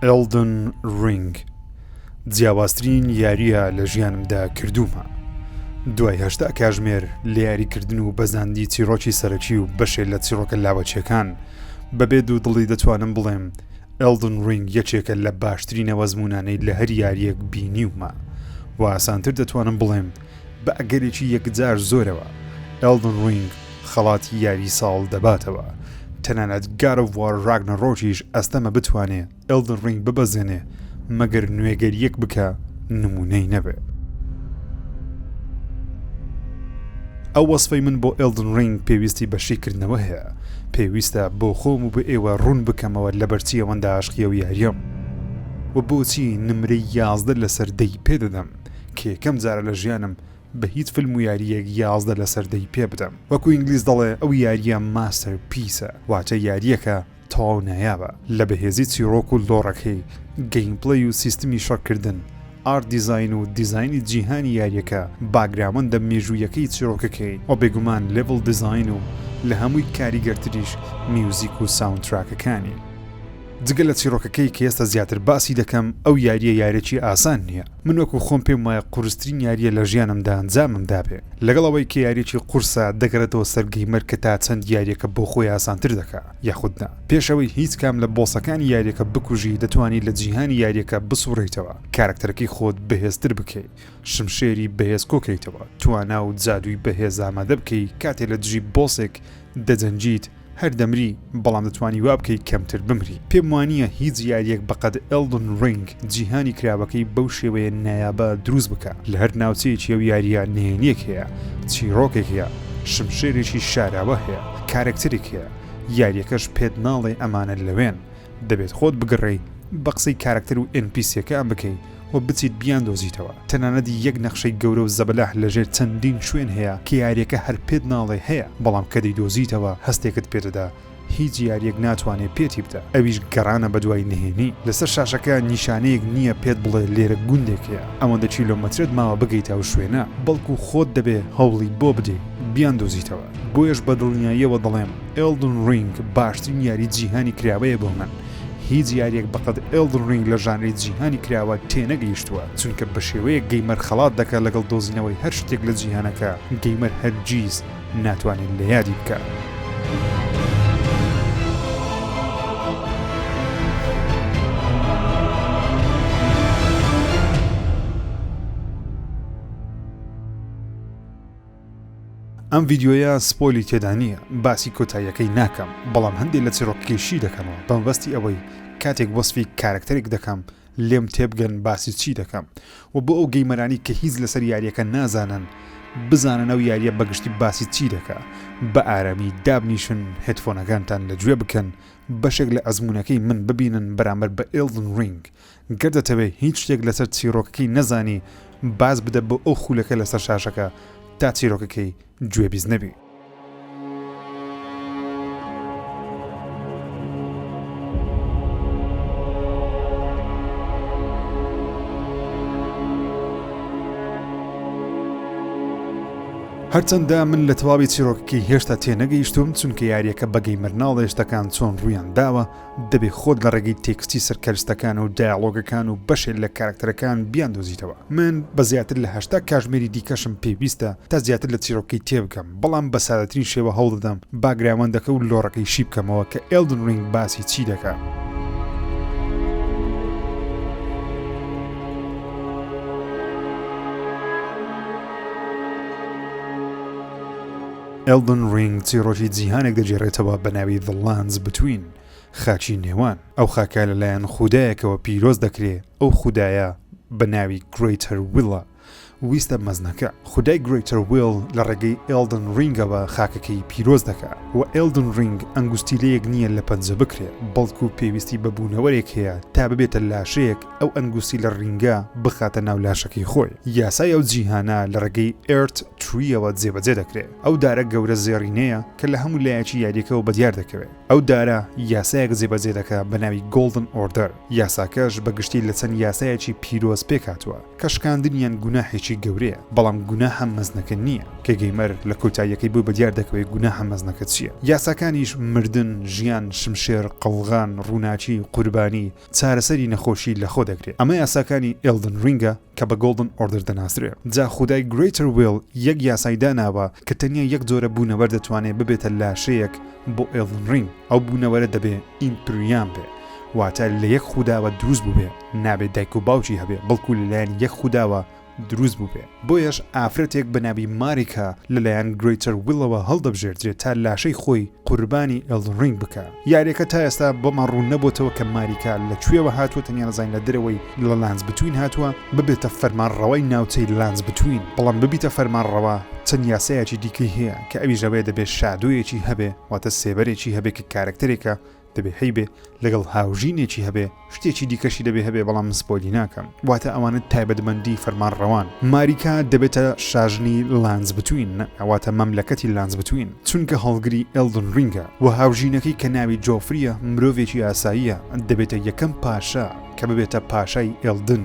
ئێڵدن ڕینگ جیاوازترین یاریە لە ژیانمدا کردوومە دوای هەشتا کاژمێر لە یاریکردن و بەزاندی چیرۆکی سەرەکی و بەشێ لە چیڕۆکە لاوەچەکان بەبێ دوو دڵی دەتوانم بڵێم Elden Ring یەکێکە لە باشترین ئەوەزموونانەی لە هەر یاریەک بینیومە و ئاسانتر دەتوانم بڵێم بە ئەگەرێکی یەکجار زۆرەوە Elden Ring خەڵاتی یاری ساڵ دەباتەوە تەنانەت God of War Ragnarokیش ئەستەمە بتوانێ Elden Ring ببەزێنێ مەگەر نوێگەریەک بکا نموونەی نەبێ. ئەو وەسفەی من بۆ ئێڵدن ڕینگ پێویستی بە شیکردنەوە هەیە، پێویستە بۆ خۆم و بۆ ئێوە ڕوون بکەمەوە لەبەرچی ئەوەندە عاشقی ئەو یاریەم و بۆچی نمرەی یازدە لەسەر دەی پێ دەدەم کە یەکەم جارە لە ژیانم بە هیچ فلم و یاریەک یازدە لەسەر دەی پێ بدەم وەکو ئینگلیز دەڵێ ئەو یاریە ماستەر پیسە واتە یاریەکە تەواو نایابە لە بەهێزی چیڕۆک و لۆڕەکەی، گەیمپلەی و سیستمی شەڕکردن، ئارت دیزاین و دیزاینی جیهانی یاریەکە، باگرامەندە مێژوویەکەی چیڕۆکەکەی، وە بێگومان لێڤڵ دیزاین و لە هەمووی کاریگەرتریش میوزیک و ساوندتراکەکانی. جگە لە چیڕۆکەکەی کە ئێستا زیاتر باسی دەکەم، ئەو یاریە یارێکی ئاسان نیە، من وەکو خۆم پێم وایە قورسترین یاریە لە ژیانمدا ئەنجامم دابێ لەگەڵ ئەوەی کە یاریەکی قورسە دەگەڕێتەوە سەر گەیمەر کە تا چەند یاریەکە بۆ خۆی ئاسانتر دەکا یاخود نا پێش ئەوەی هیچ کام لە بۆسەکانی یاریەکە بکوژی دەتوانی لە جیهانی یاریەکە بسوڕێیتەوە کارەکتەرەکەی خۆت بەهێزتر بکەی شمشێری بەهێز کۆکەیتەوە توانا و جادووی بەهێز ئامادە بکەی کاتێ لە دژی بۆسێک دەجەنگیت هەر دەمری بەڵام دەتوانی وابکەی کەمتر بمری پێم وانییە هیچ یاریەک بەقەد ئێلدن ڕینگ جیهانی کراوەکەی بەو شێوەیە نایابە دروست بکا لە هەر ناوچەیەکی ئەو یاریە نهێنیەک هەیە چیڕۆکێک هەیە شمشێرێکی شاراوە هەیە کارەکتەرێک هەیە یاریەکەش پێت ناڵێ ئەمانە لەوێن دەبێت خۆت بگەڕێی بەقسەی کارەکتەر و ئێن پی سیەکان بکەی و بچیت بیاندۆزیتەوە، تەنانەت یەک نەخشەی گەورە و زەبەلاح لەژێر چەندین شوێن هەیە کە یاریەکە هەر پێت ناڵێ هەیە بەڵام کە دەیدۆزیتەوە هەستێکت پێدەدا هیچ یاریەک ناتوانێ پێتی بدا ئەویش گەڕانە بەدوای نهێنی لەسەر شاشەکە نیشانەیەک نیە پێت بڵێ لێرە گوندێک هەیە ئەوەندە کیلۆمەترت ماوە بگەیتە ئەو شوێنە بەڵکو خۆت دەبێ هەوڵی بۆ بدەی بیاندۆزیتەوە بۆیەش بەدڵنیاییەوە دەڵێم Elden Ring باشترین یاری جیهانی کراوەیە بۆ من. هیچ یاریەک بەقەد Elden Ring لە ژانری جیهانی کراوە تێنەگەیشتووە چونکە بەشێوەیەک گەیمەر خەڵات دەکا لەگەڵ دۆزینەوەی هەر شتێک لە جیهانەکە گەیمەر هەرگیز ناتوانێت لە یادی بکا. ئەم ڤیدیۆیە سپۆیلی تێدا نییە باسی کۆتاییەکەی ناکەم بەڵام هەندێک لە چیڕۆکەکەی شی دەکەمەوە بەمەبەستی ئەوەی کاتێک وەسفی کارەکتەرێک دەکەم لێم تێبگەن باسی چی دەکەم و بۆ ئەو گەیمەرانی کە هیچ لەسەر یاریەکە نازانن بزانن ئەو یاریە بەگشتی باسی چی دەکا بە ئارامی دابنیشن هێتفۆنەکانتان لە گوێ بکەن بەشێک لە ئەزمونونەکەی من ببینن بەرامبەر بە ئێلدن رینگ گەر دەتەوێ هیچ شتێک لەسەر چیڕۆکەکەی نەزانی باز بدە بۆ ئەو خولەکە لەسەر شاشەکە تا چیرۆکەکەی گوێ بیست نەبی. هەرچەندە من لە تەواوی چیرۆکەکەی هێشتا تێنەگەیشتوم چونکە یاریەکە بە گەیمەر ناڵێ شتەکان چۆن ڕوویان داوە دەبێ خۆت لە ڕێگەی تێکستی سەر کەرستەکان و دایەڵۆگەکان و بەشێ لە کارەکتەرەکان بیاندۆزیتەوە. من بە زیاتر لە هەشتا کاژمێری دیکەشم پێویستە تا زیاتر لە چیڕۆکەی تێبگەم، بەڵام بە سادەترین شێوە هەوڵدەدەم باگراوەندەکە و لۆڕەکەی شی بکەمەوە کە ئێڵدن ڕینگ باسی چی دەکا. Elden Ring چیڕۆکی جیهانێک دەگێڕێتەوە بە ناوی The Lands Between، خاکی نێوان. ئەو خاکە لەلایەن خودایەکەوە پیرۆز دەکرێ، ئەو خودایە بە ناوی Greater Will ە، ویستە مەزنەکە. خودای Greater Will لە ڕێگەی Elden Ring ەوە خاکەکەی پیرۆز دەکا. وە Elden Ring ئەنگوستیلەیەک نییە لە پەنجە بکرێ، بەڵکو پێویستی بە بوونەوەرێک هەیە تا ببێتە لاشەیەک، ئەو ئەنگوستی لە ڕینگە بخاتە ناو لاشەکەی خۆی. یاسای ئەو جیهانە لە ڕێگەی ئێرت ترییەوە جێبەجێ دەکرێ. ئەو دارە گەورە زێڕینەیە کە لە هەموو لایەکی یارییەکەوە بەدیار دەکەوێ. ئەو دارە یاسایەک جێبەجێ دەکا بە ناوی گۆڵدن ئۆردەر. یاساکەش بە گشتی لە چەند یاسایەکی پیرۆز پێک هاتووە کە شکاندنیان گوناحێکی گەورەیە. بەڵام گوناحە مەزنەکە نییە کە گەیمەر لە کۆتاییەکەی بۆی بەدیار دەکەوێ گوناحە مەزنەکە چییە. یاساکانیش مردن، ژیان، شمشێر، قەڵغان، ڕووناکی، قوربانی، چارەسەری نەخۆشی لەخۆ دەگرێ ئەمە یاساکانی ئێلدن رینگە کە بە گۆڵدن ئۆردەر دەناسرێ جا خودای گرەیتەر ویڵ یەک یاسای داناوە کە تەنیا یەک جۆرە بوونەوەر دەتوانێ ببێتە لاشەیەک بۆ ئێلدن رینگ ئەو بوونەوەرە دەبێ ئیمپریام بێ واتە لە یەک خوداوە دروست بووبێ نابێ دایک و باوکی هەبێ بەڵکو لەلایەن یەک خوداوە دروست بووبێ، بۆیەش ئافرەتێک بە ناوی ماریکا لەلایەن گرەیتەر ویلەوە هەڵدەبژێردرێ تا لاشەی خۆی قوربانی ئێلدن رینگ بکا. یاریەکە تا ئێستا بۆمان روون نەبۆتەوە کە ماریکا لە کوێوە هاتووە تەنیا دەزانین لە دەرەوەی لە لانس بتوین هاتووە ببێتە فەرمانڕەوای ناوچەی لانس بتوین بەڵام ببیتە فەرمانڕەوا چەند یاسایەکی دیکەی هەیە کە ئەویش ئەوەیە دەبێ شادۆیەکی هەبێ واتە سێبەرێکی هەبێ کە کارەکتەرێکە دەبێ هەیبێ لەگەڵ هاوژینێکی هەبێ شتێکی دیکەشی دەبێ هەبێ بەڵام من سپۆیلی ناکەم واتە ئەوانە تایبەتمەندی فەرمانڕەوان ماریکا دەبێتە شاژنی لانس بتوین ئەواتە مەملەکەتی لانس بتوین چونکە هەڵگری ئێلدن ڕینگە و هاوژینەکەی کە ناوی جۆفریە مرۆڤێکی ئاساییە دەبێتە یەکەم پاشا کە ببێتە پاشای ئێلدن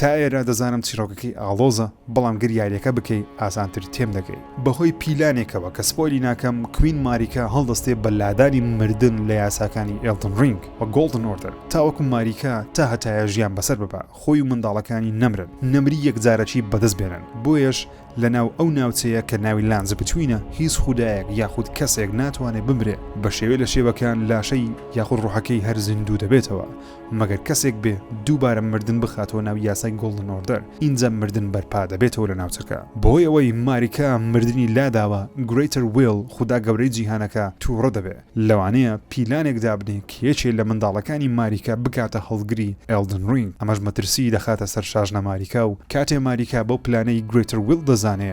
تا ئێرە دەزانم چیڕۆکەکەی ئاڵۆزە بەڵام گەر یاریەکە بکەی ئاسانتر تێم دەگەی. بەهۆی پیلانێکەوە کە سپۆیلی ناکەم کوین ماریکا هەڵدەستێ بە لادانی مردن لە یاساکانی ئێڵدن ڕینگ و گۆڵدن ئۆردەر تاوەکو ماریکا تا هەتایە ژیان بەسەر ببا خۆی و منداڵەکانی نەمرن نەمری یەکجارەکی بەدەست بێنن بۆیەش لەناو ئەو ناوچەیە کە ناوی لانز بتوینە هیچ خودایەک یاخود کەسێک ناتوانێ بمرێ بەشێوێ لە شێوەکان لاشەی یاخود ڕۆحەکەی هەر زیندوو دەبێتەوە مەگەر کەسێک بێ دووبارە مردن بخاتەوە ناو یاسای گۆڵدن ئۆردەر ئینجا مردن بەرپا دەبێتەوە لە ناوچەکە بەهۆی ئەوەی ماریکا مردنی لاداوە گرەیتەر ویڵ خودا گەورەی جیهانەکە توڕە دەبێ لەوانەیە پیلانێک دابنێ کە یەکێ لە منداڵەکانی ماریکا بکاتە هەڵگری ئێڵدن ڕینگ ئەمەش مەترسیی دەخاتە سەر شاژنە ماریکا و کاتێ ماریکا بەو پلانەی گرەیتەر ویڵ دەزانێ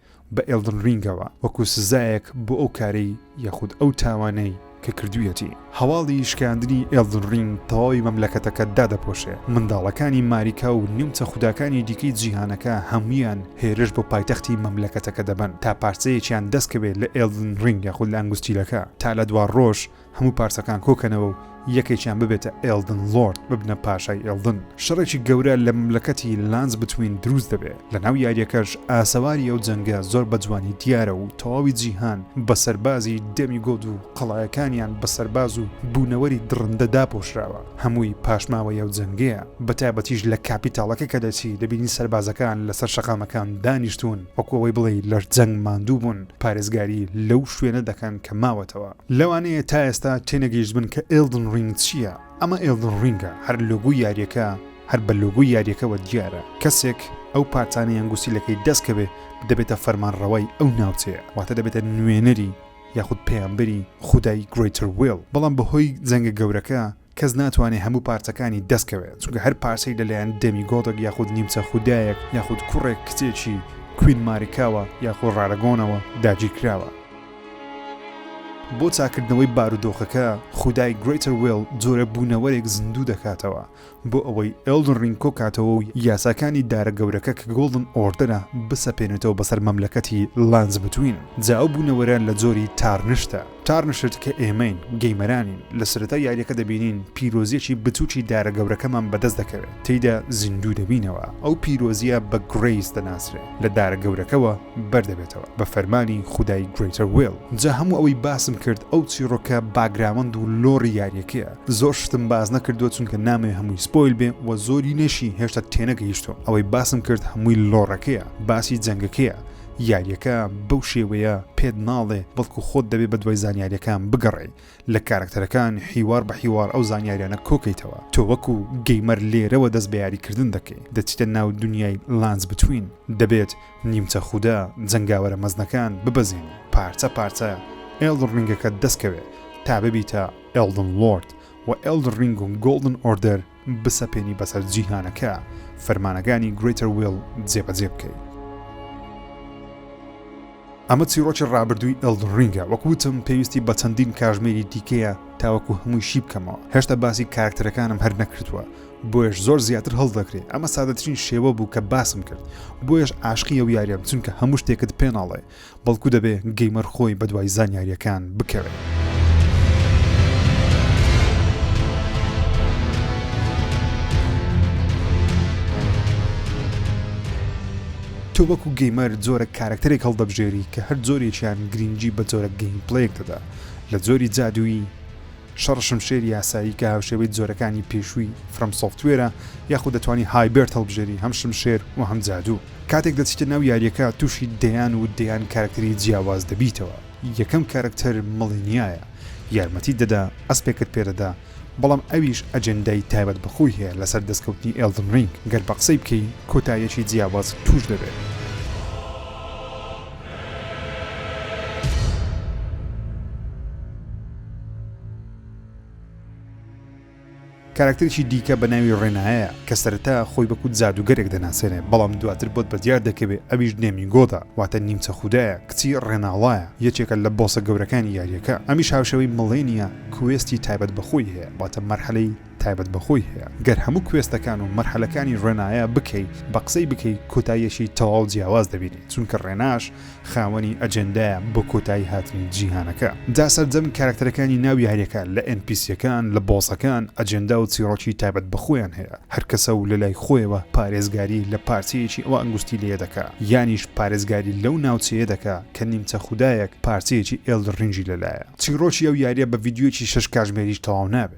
بە ئێڵدن رینگەوە وەکو سزایەک بۆ ئەو کارەی یاخود ئەو تاوانەی کە کردویەتی. هەواڵی شکاندنی ئێڵدن رینگ تەواوی مەملەکەتەکە دادەپۆشێ، منداڵەکانی ماریکا و نیمچە خوداکانی دیکەی جیهانەکە هەمویان هێرش بۆ پایتەختی مەملەکەتەکە دەبەن تا پارچەیەکیان دەستکەوێ لە ئێڵدن رینگ یاخود لە ئەنگوستیلەکە تا لە دوا رۆژ هەموو پارچەکان کۆکەنەوە و یەکێکیان ببێتە ئێڵدن لۆرد، ببنە پاشای ئێڵدن. شەڕێکی گەورە لە مەملەکەتی لانس بتوین دروست دەبێ، لە ناو یاریەکەش ئاسەواری ئەو جەنگە زۆر بە جوانی دیارە و تەواوی جیهان بە سەربازی دێمیگۆد و قەڵایەکانیان بە سەرباز و بوونەوەری دڕندە داپۆشراوە، هەمووی پاشماوەی ئەو جەنگەیە، بە تایبەتیش لە کاپیتاڵەکە کە دەچی دەبینی سەربازەکان لەسەر شەقامەکان دانیشتوون وەکو ئەوەی بڵێی لە جەنگ ماندوو بوون پارێزگاری لەو شوێنە دەکەن کە ماوەتەوە. لەوانەیە تا ئێستا تێنەگەیشتبن کە ئێڵدن ڕینگ چییە، ئەمە ئێڵدن ڕینگە، هەر لۆگۆی یاریەکە هەر بە لۆگۆی یاریەکەوە دیارە، کەسێک ئەو پارچانەی ئەنگوستی لەکەی دەست کەوێ دەبێتە فەرمانڕەوای ئەو ناوچەیە واتە دەبێتە نوێنەری یاخود پەیامبەری خودای گرەیتەر وێڵ، بەڵام بەهۆی جەنگە گەورەکە کەس ناتوانێ هەموو پارچەکانی دەست کەوێ چونکە هەر پارچەی لەلایەن دێمی گۆدێک یاخود نیمچە خودایەک یاخود کوڕێک کچێکی کوین ماریکاوە یاخۆ ڕارەگۆنەوە داگیرکراوە بۆ چاکردنەوەی بارودۆخەکە خودای گرێتەر وێڵ جۆرە بوونەوەرێک زیندوو دەکاتەوە بۆ ئەوەی ئێڵدن ڕینگ کۆکاتەوە و یاساکانی دارە گەورەکە کە گۆڵدن ئۆردەرە بسەپێنێتەوە بەسەر مەملەکەتی لانز بتوین جا ئەو بوونەوەرە لە جۆری تارنشتە تارنشت کە ئێمەین، گەیمەرانین، لە سەرەتای یاریەکە دەبینین پیرۆزیەکی بچوکی دارە گەورەکەمان بەدەست دەکەوێت، تێیدا زیندوو دەبینەوە، ئەو پیرۆزیە بە Grace دەناسرێ، لە دارە گەورەکەوە بەردەبێتەوە، بە فەرمانی خودای Greater Will. جا هەموو ئەوەی باسم کرد ئەو چیڕۆکە باگراوەند و لۆڕی یاریەکەیە، زۆر شتم باس نەکردووە چونکە نامەوێ هەمووی سپۆیل بێ و زۆرینەشی هێشتا تێنەگەیشتووم، ئەوەی باسم کرد هەمووی لۆڕەکەیە، باسی جەنگەکەیە، یاریەکە بەو شێوەیە پێت ناڵێ بەڵکو خۆت دەبێ بەدوای زانیاریەکان بگەڕێی لە کارەکتەرەکان حیوار بە حیوار ئەو زانیاریانە کۆکەیتەوە تۆ وەکو گەیمەر لێرەوە دەست بە یاری کردن دەکەی دەچیتە ناو دونیای لانس بتوین دەبێت نیمچە خودە جەنگاوەرە مەزنەکان ببەزێنی پارچە پارچە ئێڵدڕ رینگەکەت دەست کەوێ تا ببیتە ئێڵدن لۆرد وە ئێڵدڕ رینگ و گۆڵدن ئۆردەر بسەپێنی بەسەر جیهانەکە فەرمانەکانی Greater Will جێبەجێ بکەی. ئەمە چیرۆکی ڕابردووی ئەلدن ڕینگە وەک وتم پێویستی بە چەندین کاژمێری دیکەیە تاوەکو هەمووی شی بکەمەوە هێشتا باسی کارکتەرەکانم هەر نەکردووە بۆیش زۆر زیاتر هەڵدەکرێت ئەمە سادەترین شێوە بوو کە باسم کرد بۆیش عاشقی ئەو یاریەم چونکە هەموو شتێکت پێناڵێ بەڵکو دەبێ گەیمەر خۆی بەدوای زانیاریەکان بکەوێ. تۆ وەکو گەیمەر جۆرە کارەکتەرێک هەڵدەبژێری کە هەر جۆرێکیان گرینگی بە جۆرە گەیمپلەیەک دەدا لە جۆری جادوویی، شەڕ شمشێری یاسایی کە هاوشێوەی جۆرەکانی پێشووی فرەم سۆفتوێرە یاخود دەتوانی هایبرد هەڵبژێری هەم شمشێر و هەم جادوو کاتێک دەچیتە ناو یاریەکە تووشی دەیان و دەیان کارکتەری جیاواز دەبیتەوە یەکەم کارکتەر مڵینیایە یارمەتیت دەدا ئەسپێکت پێدەدا بەڵام ئەویش ئەجێندای تایبەت بەخۆی هەیە لەسەر دەستکەوتنی ئێڵدن ڕینگ گەر بە قسەی بکەی کۆتایەکی جیاواز تووش دەبێت. کاراکتەرێکی دیکە بە ناوی ڕێنایە کە سەرەتا خۆی بەکوت جادوگەرێک دەناسێنێ بەڵام دواتر بۆت بەدیار دەکەوێ ئەویش نێمیگۆدا واتە نیمچە خودایە کچی ڕێناڵایە یەکێکە لە بۆسە گەورەکانی یاریەکە ئەمیش هاوشێوەی مڵێنیا کوێستی تایبەت بەخۆی هەیە واتە مەرحەلەی تایبەت بە خۆی هەیە گەر هەموو کوێستەکان و مەرحەلەکانی ڕێنایە بکەی بە قسەی بکەی کۆتاییەکی تەواو جیاواز دەبینی چونکە ڕێناش خاوەنی ئەجێندایە بۆ کۆتایی هاتنی جیهانەکە دا سەرجەم کارەکتەرەکانی ناو یاریەکە لە ئێن پی سیەکان لە بۆسەکان ئەجێندا و چیڕۆکی تایبەت بە خۆیان هەیە هەر کەسە و لە لای خۆیەوە پارێزگاری لە پارچەیەکی ئەوە ئەنگوستی لێ دەکا یانیش پارێزگاری لەو ناوچەیە دەکا کە نیمچە خودایەک پارچەیەکی ئێلدڕینگی لە لایە. چیڕۆکی ئەو یاریە بە ڤیدیۆیەکی شەش کاژمێریش تەواو نابێ.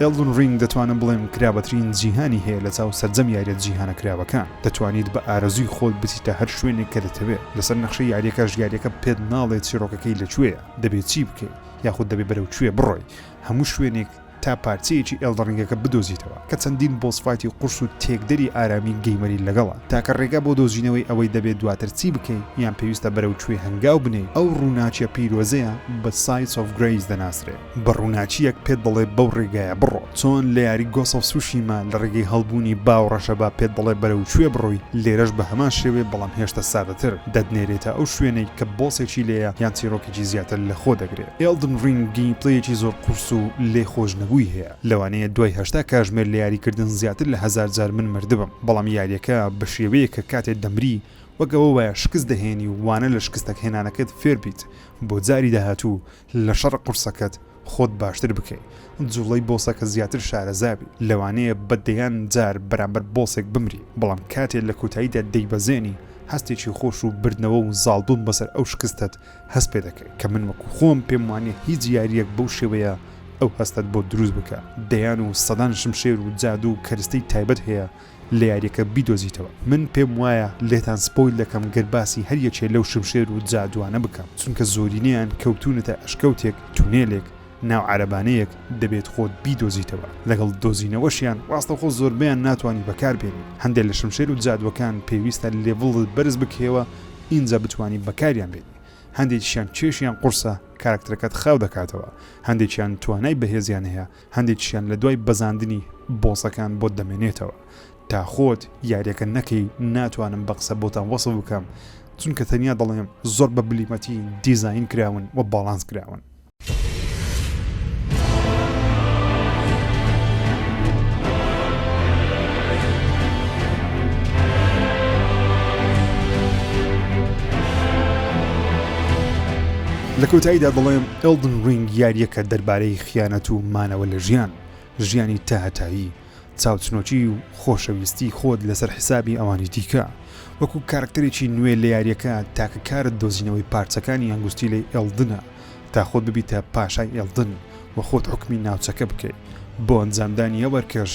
Elden Ring دەتوانم بڵێم کرابەترین جیهانی هەیە لە چاو سەرجەم یاریە جیهانە کراوەکان دەتوانیت بە ئارەزووی خۆت بچیتە هەر شوێنێک کە دەتەوێت لەسەر نەخشەی یاریەکەش یاریەکە پێت ناڵێت چیڕۆکەکەی لە کوێیە دەبێت چی بکەیت یاخود دەبێت بەرەو کوێ بڕۆی هەموو شوێنێک تا پارچەیەکی Elden Ringەکە بدۆزیتەوە کە چەندین بۆس فایتی قورس و تێکدەری ئارامی گەیمەری لەگەڵە تاکە ڕێگا بۆ دۆزینەوەی ئەوەی دەبێت دواتر چی بکەیت یان پێویستە بەرەو کوێ هەنگاو بنێیت ئەو ڕووناکیە پیرۆزەیە بە Sides of Grace دەناسرێت. بە ڕووناکییەک پێت دەڵێ بەو ڕێگایە بڕۆ چۆن لە یاری گۆسەڵ سوشیما لە ڕێگەی هەڵبوونی با و ڕەشەبا پێت دەڵێ بەرەو کوێ بڕۆی لێرەش بە هەمان شێوەیە بەڵام هێشتە سادەتر دەتنێرێتە ئەو شوێنەی کە بۆسێکی لێیە یان چیرۆکێکی زیاتر لە خۆ دەگرێ ئێڵدن ڕینگ گەیمپلەیەکی زۆر قورس و لێ خۆش نەبووی هەیە لەوانەیە دوای هەشتا کاژمێر لە یاری کردن زیاتر لە هەزار جار من مردبم بەڵام یاریەکە بە شێوەیەک کە کاتێ دەمری وەک ئەوە وایە شکست دەهێنی و وانە لە شکستەک هێنانەکەت فێر بیت بۆ جاری داهاتوو لە شەڕ قورسەکەت خۆت باشتر بکەی جوڵەی بۆسەکە زیاتر شارەزابی لەوانەیە بە دەیان جار بەرامبەر بۆسێک بمری بەڵام کاتێ لە کۆتاییدا دەیبەزێنی هەستێکی خۆش و بردنەوە و زاڵبوون بەسەر ئەو شکستەت هەست پێ دەکەی کە من وەکو خۆم پێم وانیە هیچ یاریەک بەو شێوەیە ئەو هەستەت بۆ دروست بکا دەیان و سەدان شمشێر و جادوو و کەرستەی تایبەت هەیە لە یاریەکە بیدۆزیتەوە من پێم وایە لێتان سپۆیل دەکەم گەر باسی هەر یەکێ لەو شمشێر و جادوانە بکەم چونکە زۆرینەیان کەوتونەتە ئەشکەوتێک تونێلێک ناو عەرەبانەیەک دەبێت خۆت بیدۆزیتەوە لەگەڵ دۆزینەوەشیان ڕاستەخۆ زۆربەیان ناتوانی بەکار بێنی هەندێ لە شمشێر و جادوەکان پێویستە لێڤڵت بەرز بکەیەوە ئینجا بتوانی بەکاریان بێنی هەندێکیشیان کێشیان قورسە کاراکتەرەکەت خاو دەکاتەوە هەندێکیان توانای بەهێزیان هەیە هەندێکیشیان لە دوای بەزاندنی بۆسەکان بۆت دەمێنێتەوە تا خۆت یاریەکە نەکەی ناتوانم بە قسە بۆتان وەسف بکەم چونکە تەنیا دەڵێم زۆر بە بلیمەتی دیزاین کراون و باڵانس کراون. لە کۆتاییدا دەڵێم Elden Ring یاریەکە دەربارەی خیانەت و مانەوە لە ژیان، ژیانی تاهەتایی، چاوچنۆکی و خۆشەویستی خۆت لەسەر حیسابی ئەوانی دیکە. وەکو کارەکتەرێکی نوێ لە یاریەکە، تاکە کارت دۆزینەوەی پارچەکانی ئەنگوستیلەی ئێڵدنە تا خۆت ببیتە پاشای ئێڵدن و خۆت حوکمی ناوچەکە بکەی. بۆ ئەنجامدانی ئەو ئەرکەش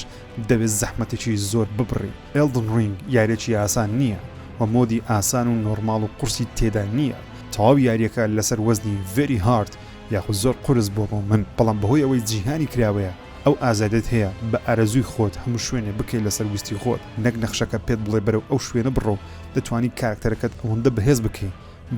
دەبێت زەحمەتێکی زۆر ببڕی. ئێڵدن ڕینگ یاریەکی ئاسان نییە و مۆدی ئاسان و نۆرماڵ و قورسی تێدا نییە. تەواو یاریەکە لەسەر وەزنی Very Hard یاخود زۆر قورس بووە بۆ من، بەڵام بەهۆی ئەوەی جیهانی کراوەیە، ئەو ئازادیت هەیە بە ئارەزووی خۆت هەموو شوێنێ بکەی لەسەر ویستی خۆت، نەک نەخشەکە پێت بڵێ بەرەو ئەو شوێنە بڕۆ و دەتوانی کارەکتەرەکەت ئەوەندە بەهێز بکەی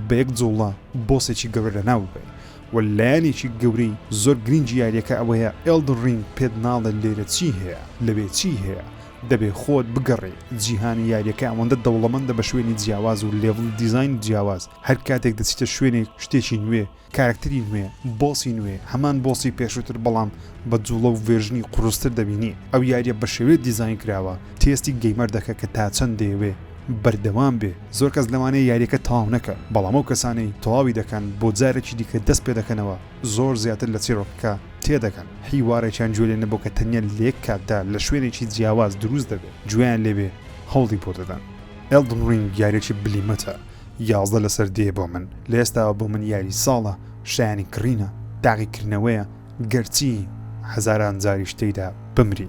بە یەک جوڵە بۆسێکی گەورە لەناو ببەی و لایەنێکی گەورەی زۆر گرینگی یاریەکە ئەوەیە ئێڵدن رینگ پێت ناڵێ لێرە چی هەیە لەوێ چی هەیە دەبێ خۆت بگەڕێی جیهانی یاریەکە ئەوەندە دەوڵەمەندە بە شوێنی جیاواز و لێڤڵ دیزاین جیاواز هەر کاتێک دەچیتە شوێنێک شتێکی نوێ کارەکتەری نوێ، بۆسی نوێ، هەمان بۆسی پێشووتر بەڵام بە جوڵە و ڤێرژنی قوڕستر دەبینی، ئەو یاریە بەشێوەیەک دیزاین کراوە تێستی گەیمەر دەکە کە تا چەند دەیەوێ بەردەوام بێ، زۆر کەس لەوانەیە یاریەکە تەواو نەکە بەڵام ئەو کەسانەی تەواوی دەکەن بۆ جارێکی دیکە دەست پێ دەکەنەوە زۆر زیاتر لە چیڕۆکەکە تێ دەگەن حیوارێکیان گوێ لێ نەبوو کە تەنیا لە یەک کاتدا لە شوێنێکی جیاواز دروست دەبێ گوێیان لێ بێ هەوڵی بۆ دەدەن ئێڵدن ڕینگ یاریەکی بلیمەتە یازدە لەسەر دێیە بۆ من، لە ئێستاوە بۆ من یاری ساڵە، شایانی کڕینە، تاقیکردنەوەیە، گەرچی هەزاران جاریش تێیدا بمری.